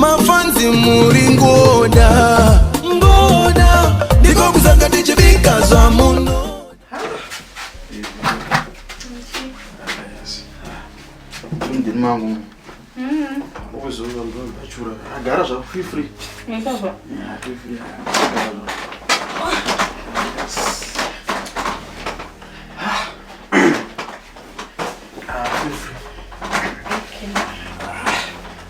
mafanzi muri ngoda ngoda ndiko kuzanga tichibika zvamuno agara zvako free free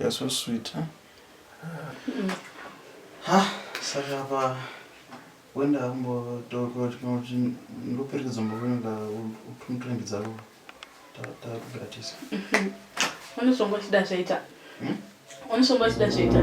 You're so sweet, huh? Mm. Ha, saka apa wenda ambo toko tinoti ndoperekedza mboenda utuntrend dzako takugatisa. Unosongo chida zvaita. Unosongo chida zvaita.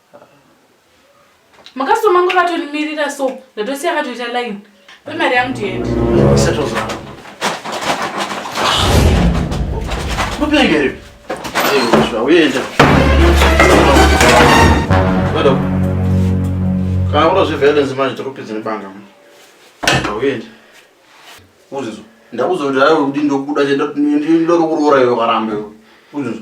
makasitoma angu akatonimirira so ndatosiya akatoita line pe mari yangu ndiende mupengeri uenda kana kuda zveviolence manje tokupedza nebanga uenda uzizo ndakuzoda udi ndokuda ndokuroora iwe karamba iwe uzizo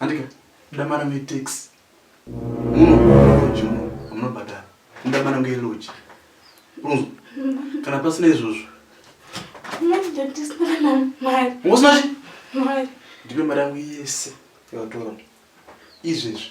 Andika, ndoda mari yangu yetaxi. Muno lodge muno hamunobhadhara. Ndoda mari yangu yelodge. Unonzwa? Kana pasina izvozvo. Manje dadi sina na mari. Usina chi? Mari. Ndipe mari yangu yese yawatora. Izvezvi.